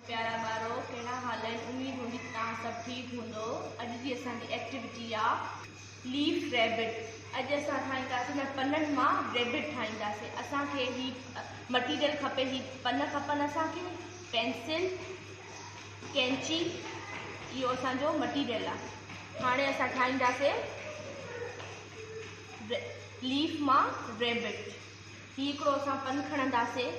پيارا ٻارو ڪهڙا حال آهن اميد هوندي ته توهان سڀ ٺيڪ هوندؤ اڄ جي اسان جي ايڪٽيوٽي آ ليف ريبٽ اڄ اسان ٺاهينداسين انهن پنن مان ريبٽ ٺاهينداسين اسان کي هي مٽيريل کپي هي پن کپن اسان کي پينسل ڪينچي اهو اسان جو مٽيريل آ هاڻي اسان ٺاهينداسين ليف مان ريبٽ هي هڪڙو اسان پن کڻنداسين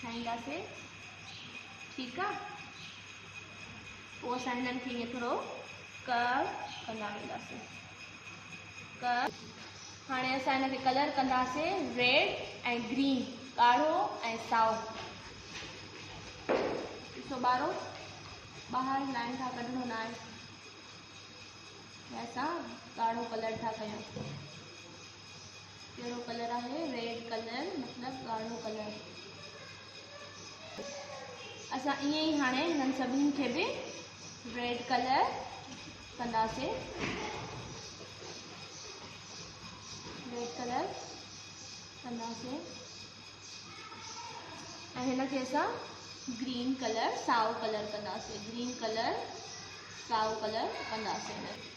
ٺاهينداسين ٺيڪ آ پوء اسان هنن کي ائين ٿورو ڪرو ڪندا وينداسين ڪرو هاڻي اسان هن کي ڪلر ڪنداسين ريڊ ۽ گرين ڳاڙهو ۽ سائو ڏسو ٻارو ٻاهر لائن ٿا ڪڍڻو نه آهي اسان ڳاڙهو ڪلر ٿا ڪيون ڪهڙو ڪلر آهي؟ ريڊ ڪلر مطلب ڳاڙهو ڪلر. بس اسان ائين ئي هاڻي هنن سڀني کي به ريڊ ڪلر ڪنداسين. ريڊ ڪلر ڪنداسين ۽ هن کي اسان گرين ڪلر سائو ڪلر ڪنداسين گرين ڪلر سائو ڪلر ڪنداسين.